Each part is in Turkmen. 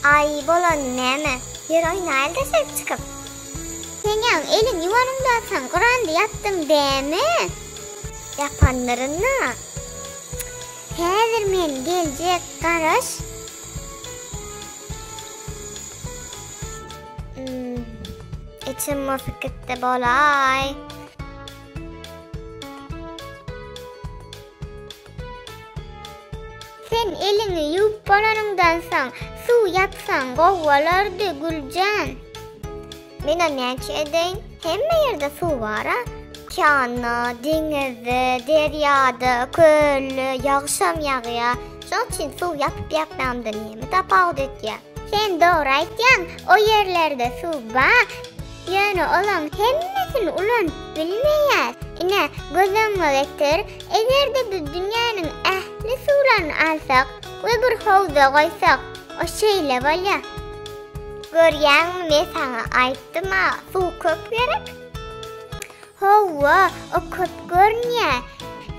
Aý bolany näme? Ýör oýnaýyl-da söz çykyp. Sen ýaň elin ýuwanyňdakan gyrandy ýapdyň dämi? Ýapandyryn-da. Häzir men geljek, garaş. Ým, içim bosuk gitdi bolaý. Sen eliňi ýuwup bolanyňdan soň suw ýapsaň gowy bolardy, Güljan. Menä näçe edeýin, hemme ýerde suw bar-a. Okeanda, deňizde, derýada, kölde ýagşam ýagýar. Şonuň üçin suw ýapyp-ýapmamda näme tapawut etýär? Sen dogry aýtýaň, o ýerlerde suw bar. Ýöne olaň hemmesini ulanyp bilmeýäs. Ine, göz öňüňe getir, eger-de biz dünýäniň ähli suwlaryny alsak we bir howza goýsak, o şeýle bolýar. Görýäňmi, men saňa aýtdym-a, suw köp gerek. Hawa, o köp görünýär.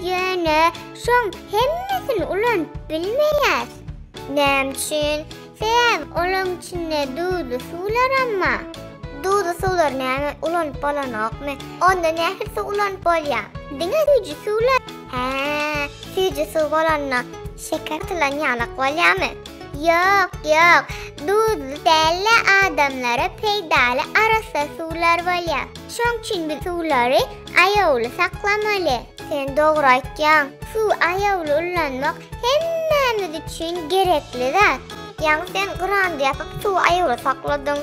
Ýöne şoň hemmesini ulanyp bilmeýäs. Näme üçin? Sebäbi olaryň içinde duzly suwlaram bar. Duzly suwlary näme ulanyp bolanokmy? Onda nähili suw ulanyp bolýar? Diňe süýji suwlar. Hä, süýji suw bolanda şeker atylan ýalak bolýarmy? Ýok, ýok. Duzly däl-de adamlara peýdaly arassa suwlar bolýar. Şoň üçin biz suwlary aýawly saklamaly. Sen dogry aýtýaň. Suwy aýawly ullanmak Hemmämiz üçin gerekli zat. Ýaňy sen grandy ýapyp suwy aýawly sakladyň.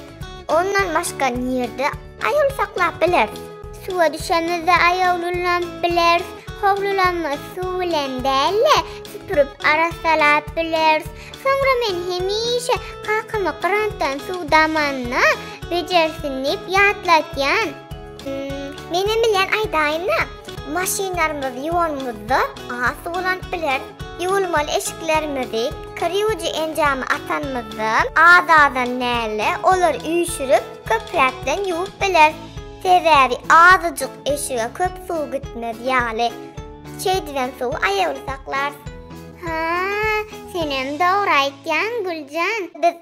Ondan başga nirde aýawly saklap bileris? Suwa düşemizde aýawly ulanyp bileris. Howly ulanmagy suw bilen däl-de, süpürip arassalap bileris. Soňra men hemişe kakama grantdan suw damanda bejersin diýip ýatlatýan. Menem bilýän aýdaýyn-da. Maşynlarymyzy ýuwanymyzda has ulanyp bileris. Ýuwulmaly eşiklerimizi, kir ýuwujy enjamy atanymyzda, az-azdan däl-de, olary üýşürip, köpräkden ýuwup bileris. Sebäbi azajyk eşige köp suw gitmez ýaly. Şeýdibem suwy aýawly saklarys. Haa, senem dogry aýtýaň, Güljan. Biz